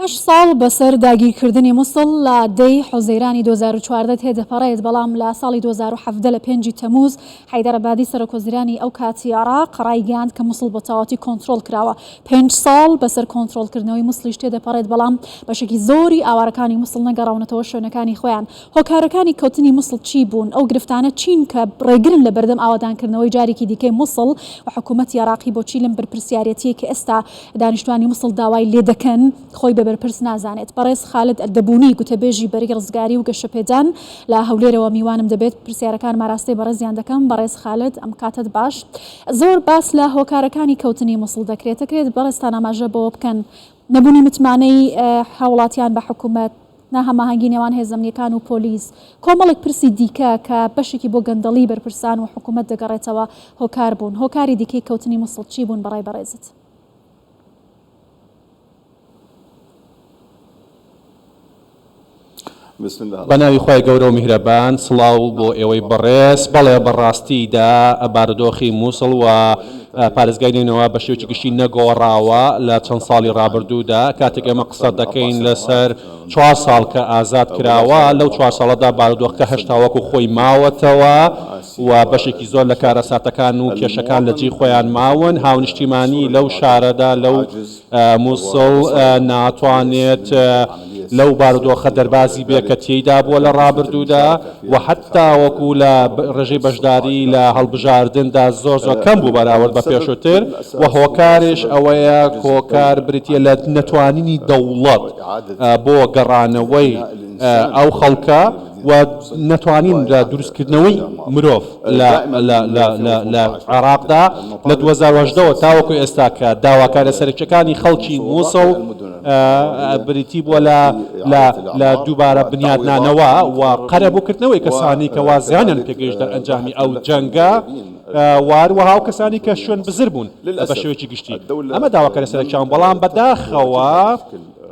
هەشت ساڵ بەسەر داگیرکردنی موسڵ لە دە ی حوزەیرانی دوو هەزار و چواردە تێدەپەڕێت، بەڵام لە ساڵی دوو هەزار و حەڤدە لە پێنج ی تەمووز، حەیدەر عەبادی سەرۆکوەزیرانی ئەو کاتی عێراق ڕایگەیاند کە موسڵ بەتەواوەتی کۆنترۆڵ کراوە. پێنج ساڵ بەسەر کۆنترۆڵکردنەوەی موسڵیش تێدەپەڕێت، بەڵام بەشێکی زۆری ئاوارەکانی موسڵ نەگەڕاونەتەوە شوێنەکانی خۆیان. هۆکارەکانی کەوتنی موسڵ چی بوون؟ ئەو گرفتانە چین کە ڕێگرن لەبەردەم ئاوەدانکردنەوەی جارێکی دیکەی موسڵ؟ و حکوومەتی عێراقی بۆچی لەم بەرپرسیارێتییەی کە ئێستا دانیشتوانی موسڵ داوای لێدەکەن خۆی بە بەرپرس نازانێت. بەڕێز خالد ئەردەبونی، گوتەبێژی بەرەی ڕزگاری و گەشەپێدان لە هەولێرەوە میوانم دەبێت، پرسیارەکانم ئاراستەی بەڕێزیان دەکەم. بەڕێز خالد، ئەم کاتەت باش. زۆر باس لە هۆکارەکانی کەوتنی موسڵ دەکرێت، دەکرێت بەڕێزتان ئاماژە بەوە بکەن نەبونی متمانەی هاوڵاتیان بە حکومەت، ناهەماهەنگی نێوان هێزە ئەمنییەکان و پۆلیس، کۆمەڵێک پرسی دیکە کە بەشێکی بۆ گەندەڵی بەرپرسان و حکوومەت دەگەڕێتەوە هۆکار بوون. هۆکاری دیکەی کەوتنی موسڵ چی بوون بەڕای بەڕێزت؟ بە ناوی خوای گەورە و میهرەبان، سڵاو بۆ ئێوەی بەڕێز، بەڵێ بەڕاستی دا بارودۆخی موسڵ و پارێزگای نەینەوا بە شێوەیەکی گشتی نەگۆڕاوە لە چەند ساڵی ڕابردوودا، کاتێک ئێمە قسە دەکەین لەسەر چوار ساڵ کە ئازاد کراوە، لەو چوار ساڵەدا بارودۆخەکە هەشتا وەکو خۆی ماوەتەوە و بەشێکی زۆر لە کارەساتەکان و کێشەکان لە جێی خۆیان ماون، هاونیشتیمانی لەو شارەدا لەو موسڵ ناتوانێت لەو بارودۆخە دەربازی بێت کە تێیدا بووە لە ڕابردوودا و هەتاوەکو لە ڕێژەی بەشداری لە هەڵبژاردندا زۆر زۆر کەم بوو بەراورد بە پێشووتر و هۆکارێش ئەوەیە هۆکار بریتییە لە نەتوانینی دەوڵەت بۆ گەڕانەوەی ئەو خەڵکە و نەتوانین لە دروستکردنەوەی مرۆڤ لە لە عێراقدا لە دوو هەزار و هەژدە وە تاوەکو ئێستا کە داواکارە سەرەکیەکانی خەڵکی موسڵ بریتی بووە لە لە لە دووبارە بنیادنانەوە و قەرەبوو کردنەوەی کەسانی کە وا زیانیان پێگەیشت دەر ئەنجامی ئەو جەنگە و هەروەها ئەو کەسانی کە شوێن بزر بوون بە شێوەیەکی گشتی ئەمە داواکارە سەرەکیان بەڵام بەداخەوە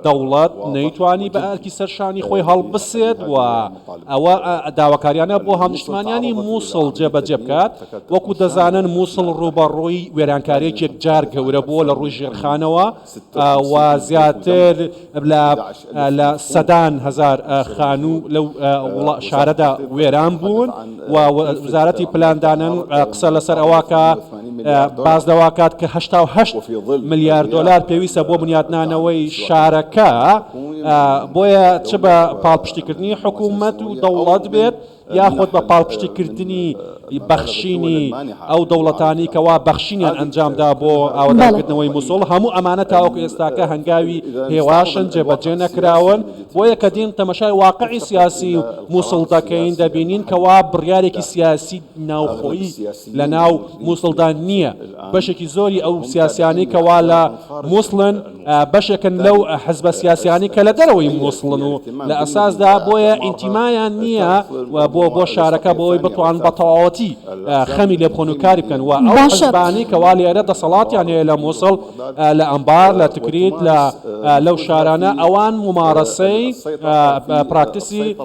دەوڵەت نەیتوانی بە ئەرکی سەر شانی خۆی هەڵبسێت و ئەوە داواکاریانە بۆ هاونیشتمانیانی مووسڵ جێبەجێ بکات، وەکو دەزانن مووسڵ ڕووبەڕووی وێرانکارییەک یەکجار گەورە بووە لە ڕووی ژێرخانەوە و زیاتر لە سەدان هەزار خانوو لەو شارەدا وێران بوون. و وزارەتی پلاندانن قسە لەسەر ئەوواکە باز لەواکات کە هشتا و هەشت ملیار دلار پێویستە بۆ بنیاتنانەوەی شارەکە بۆیە چ بە پاڵپشتیکردنی حکوومەت و دەوڵات بێت یاخود بە پاڵپشتیکردنی بەخشینی ئەو دەوڵەتانی کەوا بەخشینیان ئەنجامدا بۆ ئاوەداکردنەوەی مسۆڵ هەموو ئەمانە تاوەکو ئێستاکە هەنگاوی هێواشن جێبەجێ نەکراون بۆیە کە دێین تەمەشای واقعی سیاسی موسڵ دەکەین دەبینین کەوا بڕیارێکی سیاسی ناوخۆیی لە ناو موسڵدا نییە بەشێکی زۆری ئەو سیاسیانەی کەوا لە موسڵن بەشێکن لەو حزبە سیاسیانی کە لە دەرەوەی موسڵن و لە ئەساسدا بۆیە ئینتیمایان نییە بۆ بۆ شارەکە بۆی بتوان بە تەواوەتی خەمی لێ بخۆن و کاری بکەن و ئەو حزبانەی کەوا لێرە دەسەڵاتیان هەیە لە موسڵ لە ئەنبار، لە تکریت، لە لەو شارانە ئەوان مومارەسەی پراکتسی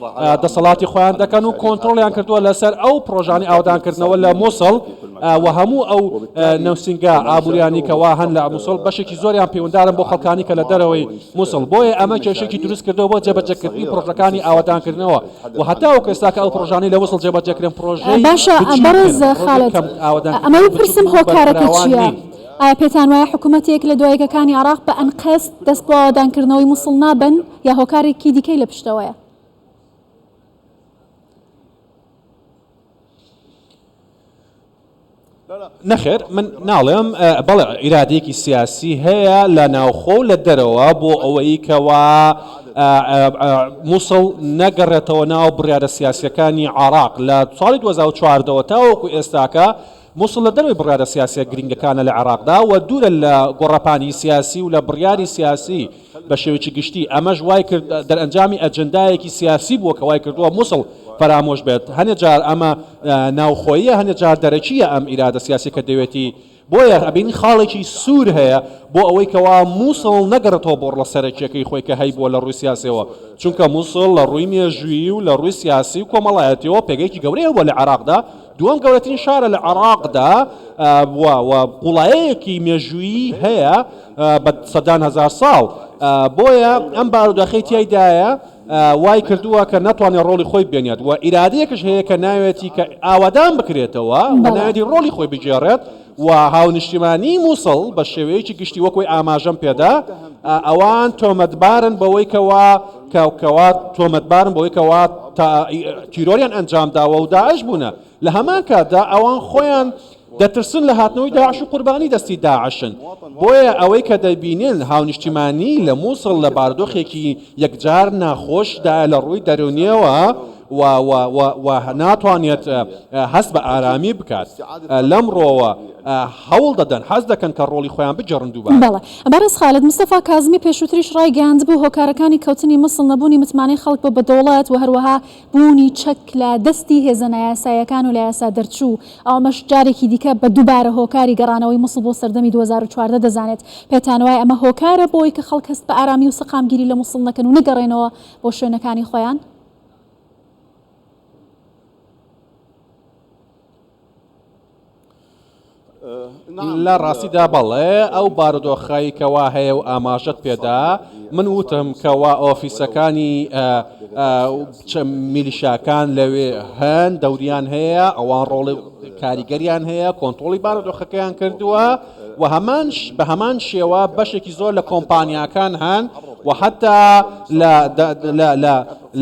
دەسەڵاتی خۆیان دەکەن و کۆنترۆڵیان کردووە لەسەر ئەو پڕۆژانی ئاودانکردنەوە لە موسڵ و هەموو ئەو نوسینگە ئابوریانی کەوا هەن لە موسڵ بەشێکی زۆریان پەیوەندارن بۆ خەڵکانی کە لە دەرەوەی موسڵ بۆیە ئەمە کێشەیەکی دروست کردووە بۆ جێبەجێکردنی پڕۆژەکانی ئاوەدانکردنەوە و هەتاوەکو ئێستا کە ئەو پڕۆژانەی لە موسڵ جێبەجێکرێن پڕۆژەی بچووکن، ئەمە بپرسم هۆکارەکە چییە؟ ئایا پێتان وایە حکوومەت یەک لە دوا یەکەکانی عێراق بە ئەنقەست دەست بۆ ئاوەدان کردنەوەی مووسڵ نابەن یا هۆکارێکی دیکەی لە پشتەوەیە؟ نەخێر من ناڵێم بەڵێ ئیرادێکی سیاسی هەیە لە ناوخۆ و لە دەرەوە بۆ ئەوەی کەوا مووسڵ نەگەڕێتەوە ناو بڕیارە سیاسەکانی عراق لە ساڵی 2014ەوە تاوەکو ئێستاکە موسڵ لە دەرەوەی بڕیارە سیاسیە گرینگەکانە لە عێراقدا و دوورە لە گۆڕەپانی سیاسی و لە بڕیاری سیاسی بە شێوەیەکی گشتی، ئەمەش وای کرد دەرئەنجامی ئەجندایەکی سیاسی بووە کە وای کردووە موسڵ فەرامۆش بێت، هەنێ جار ئەمە ناوخۆییە هەنێ جار دەرەکییە ئەم ئیرادە سیاسیە کە دەوێتی، بۆیە ئەبینین خاڵێکی سوور هەیە بۆ ئەوەی کەوا موسڵ نەگەڕێتەوە بۆ ڕڵە سەرەکیەکەی خۆی کە هەیبووە لە ڕووی سیاسیەوە، چونکە موسڵ لە ڕووی مێژوویی و لە ڕووی سیاسی و کۆمەڵایەتیەوە پێگەیەکی گەورەی هەبووە لە عێراقدا، دووەم گەورەترین شارە لە عێراقدا و و قوڵایەیەکی مێژوویی هەیە بە سەدان هەزار ساڵ بۆیە ئەم باروداخی تیایدایە وای کردووە کە ناتوانێت ڕۆڵی خۆی بێنێت و ئیرادەیەکش هەیە کە ناوێتی کە ئاوادان بکرێتەوە بەڵێ. نایەتی ڕۆڵی خۆی بگێڕێت. و هاونیشتیمانیی مووسڵ بە شێوەیەکی گشتی وەکوەی ئاماژەم پێدا ئەوان تۆمەتبارن بەوەی کەوا کە کەوا تۆمەتبارن بەوەی کەوا تا تیرۆریان ئەنجام داوە و داعش بوونە لە هەمان کاتدا ئەوان خۆیان دەترسن لە هاتنەوەی داعش و قوربانی دەستی داعشن بۆیە ئەوەی کە دەبینن هاونیشتیمانیی لە مووسڵ لە بارودۆخێکی یەکجار ناخۆشدا لە ڕووی دەروونییەوە و و و و ناتوانێت هەست بە ئارامی بکات لەم ڕۆوە هەوڵ دەدەن حەز دەکەن کە ڕۆڵی خۆیان بگێڕن دووبارە. بەڵێ بەڕێز خالد مستەفا کازمی پێشووتریش ڕایگەیاندبوو هۆکارەکانی کەوتنی موسڵ نەبوونی متمانەی خەڵک بە بە دەوڵەت و هەروەها بوونی چەک لە دەستی هێزە نایاساییەکان و لە یاسا دەرچوو ئەو ئەمەش جارێکی دیکە بە دووبارە هۆکاری گەڕانەوەی موسڵ بۆ سەردەمی دوو هەزار و چواردە دەزانێت پێتانوایە ئەمە هۆکارە بۆی کە خەڵک هەست بە ئارامی و سەقامگیری لە موسڵ نەکەن و نەگەڕێنەوە بۆ شوێنەکانی خۆیان؟ لە ڕاستیدا بەڵێ ئەو بارودۆخەی کەوا هەیە و ئاماژەت پێدا من وتم کەوا ئۆفیسەکانی میلیشاکان لەوێ هەن دەوریان هەیە ئەوان ڕۆڵی کاریگەریان هەیە کۆنتترۆلی بارودۆخەکەیان کردووە و هەمانش بە هەمان شێوە بەشێکی زۆر لە کۆمپانیاکان هەن و حتا لە لە لە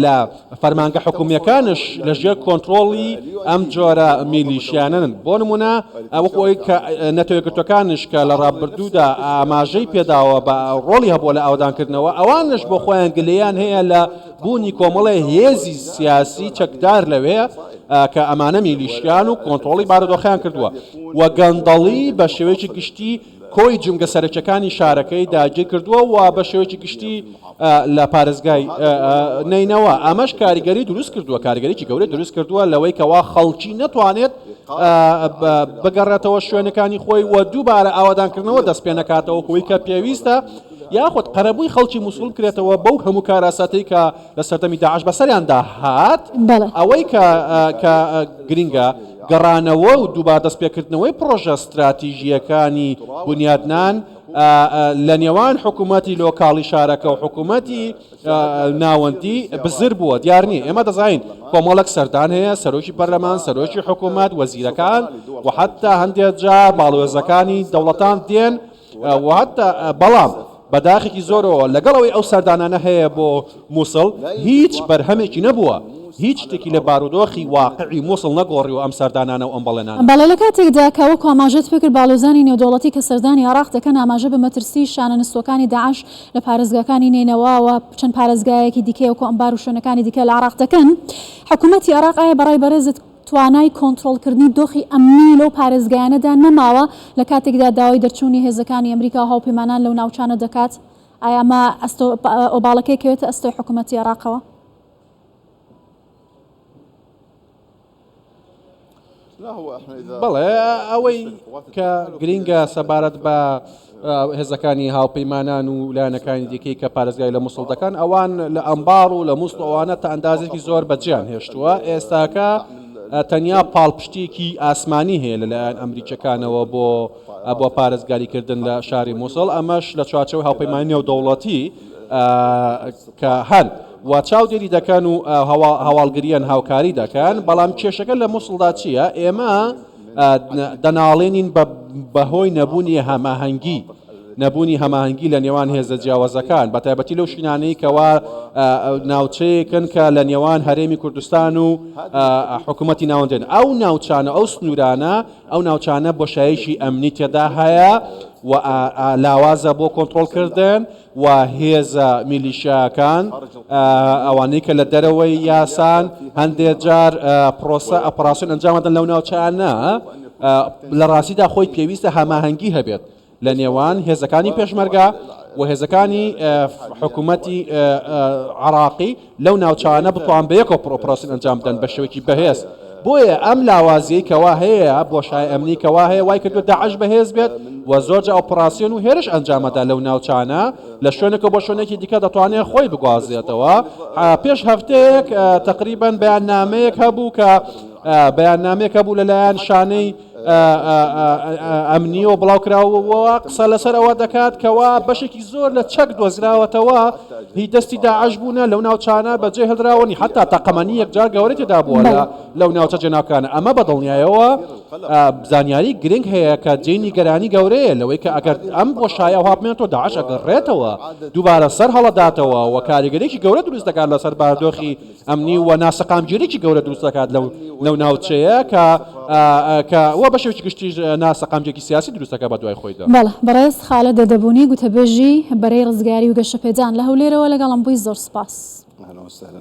لە فەرمانگە حکومیەکانش لە ژێر کۆنتترۆڵی ئەم جۆرە میلیشیانن بۆ نمونە ئەوەی کە نەتەوەگرتوەکانش کە لە ڕابردوودا ئاماژەی پێداوە بە ڕۆڵی هەبووە لە ئاودانکردنەوە ئەوانش بۆ خۆیان گلیان هەیە لە بوونی کۆمەڵێ هێزی سیاسی چەکدار لەوێ کە ئەمانە میلیشیان و کۆنترۆڵی بارودۆخەیان کردووە و گەندەڵی بە شێوەیەکی گشتی کۆی جومگە سەرەکیەکانی شارەکەی داگیر کردووە و بە شێوەیەکی گشتی لە پارێزگای نەینەوا ئەمەش کاریگەری دروست کردووە کاریگەریی گەورەی دروست کردووە لەوەی کەوا خەڵکی نەتوانێت بگەڕێتەوە شوێنەکانی خۆی و دووبارە ئاوادانکردنەوە دەست پێ نەکاتەوە کە پێویستە یاخود قەرەبووی خەڵکی موسڵ بکرێتەوە بەو هەموو کاراساتەی کە لە سەردەمی داعش بەسەریاندا هات ئەوەی کە کە گرنگە گەڕانەوە و دووبار دەستپێکردنەوەی پڕۆژە ستراتیژیەکانی بنیادنان لە نێوان حکوومەتی لۆکاڵی شارەکە و حکوومەتی ناوەندی بزر بووە دیار نییە ئێمە دەزانین کۆمەڵک سەردان هەیە سەرۆکی پەرلەمان سەرۆکی حکوومەت وەزیرەکان و حتا هەندێک جار باڵوێزەکانی دەوڵەتان دێن بەڵام بە داخێکی زۆرەوە لەگەڵ ئەوەی ئەو سەردانانە هەیە بۆ موسڵ هیچ بەرهەمێکی نەبووە، هیچ شتێکی لە بارودۆخی واقعی موسڵ نەگۆڕیوە ئەم سەردانانە و ئەم بەڵێنانە. بەڵێ لە کاتێکدا کە وەکو ئاماژەت پێکرد باڵیۆزانی نێودەوڵەتی کە سەردانی عێراق دەکەن ئاماژە بە مەترسی شانە نستووەکانی داعش لە پارێزگاکانی نەینەوا و چەند پارێزگایەکی دیکەی وەکو ئەنبار و شوێنەکانی دیکە لە عێراق دەکەن حکومەتی عێراق ئایا بە ڕای بەڕێزت توانای کۆنترۆڵکردنی دۆخی ئەمنی لەو پارێزگایانەدا نەماوە لە کاتێکدا داوای دەرچوونی هێزەکانی ئەمریکا و هاوپەیمانان لەو ناوچانە دەکات، ئایا ئەمە ئەستۆ ئۆباڵەکە یەکەوێتە ئەستۆی حکوومەتی عێراقەوە؟ بەڵێ، ئەوەی کە گرینگە سەبارەت بە هێزەکانی هاوپەیمانان و لایەنەکانی دیکەی کە پارێزگای لە مووسڵ دەکەن ئەوان لە ئەمباڕ و لە مووسڵ ئەوانە تا ئەندازێکی زۆر بەجێیان هێشتووە ئێستاکە تەنیا پاڵپشتیەکی ئاسمانی هەیە لەلایەن ئەمریکیەکانەوە بۆ بۆ پارێزگاریکردن لە شاری مووسڵ ئەمەش لە چوارچەوەی هاوپەیمانی نێودەوڵەتی کە هەن و چاودێری دەکەن و هەواڵگریان هاوکاری دەکەن بەڵام کێشەکە لە مووسڵدا چییە ئێمە دەناڵێنین بەهۆی نەبوونی هەماهەنگی نەبوونی هەماهەنگی لە نێوان هێزە جیاوازەکان بەتایبەتی لەو شوینانەی کەوا ناوچەیەکن کە لە نێوان هەرێمی کوردستان و حکوومەتی ناوەندێن ئەو ناوچانە ئەو سنوورانە ئەو ناوچانە بۆشایشی ئەمنی تێدا هەیە و لاوازە بۆ کۆنتترۆلکردن و هێزە میلیشیایەکان ئەوانەی کە لە دەرەوەی یاسان هەندێک جار پرۆسە ئەپەراسیۆن ئەنجامدەن لەو ناوچانە لە ڕاستیدا خۆی پێویستە هەماهەنگی هەبێت لە نێوان هێزەکانی پێشمەرگە و هێزەکانی حکوومەتی عراقی لەو ناوچانە بتوان بەیەکەوە پرۆپراسین ئەنجام بدەن بەشێوەیەکی بەهێز بۆیە ئەم لاوازیەی کەوا هەیە بۆشای ئەمنی کەوا هەیە وای کردو داعش بەهێز بێت و زۆرجە ئۆپراسیۆن و هێرش ئەنجامەدا لەو ناوچانە لە شوێنەکە بۆ شوێنێکی دیکە دەتوانێت خۆی بگوازێتەوە پێش هەفتەیەک تقریبان بەیان نامەیەک هەبوو کە بەیان نامێک هەبوو لەلایەن شانەی ئەمنیەوە بڵاوکراوەوە قسە لەسەر ئەوە دەکات کەوا بەشێکی زۆر لە چەک دۆزراوەتەوە هی دەستی داعش بوونە لەو ناوچانە بەجێ هەدراوەنی حتا تەقەمەنی یەکجار گەورەی تێدا بووە لە لەو ناوچە جێناکانە ئەمە بە دڵنیایەوە بزانیاری گرنگ هەیە کە جێی نیگەرانی گەورەیە لەوەی کە ئەگەر ئەم بۆ شایە هاابمێن تۆ داعش ئەگەڕێتەوە دووبارە سەر هەڵداتەوە و کاریگەرێکی گەورە دروست دەکات لەسەر باردۆخی ئەمنی و ناسەقامگیریی گەورە دروست دەکات لەو ناوچەیە کە کە و بە شێوەیەکی گشتیش ناسەقامگیریی سیاسی دروست دەکات بە دوای خۆیدا. بەڵێ بەڕێز خالد دەدەبونی گوتەبێژی بەرەی ڕزگاری و گەشەپێدان لە هەولێرەوە لەگەڵم بووی زۆر سوپاس. اهلا وسهلا.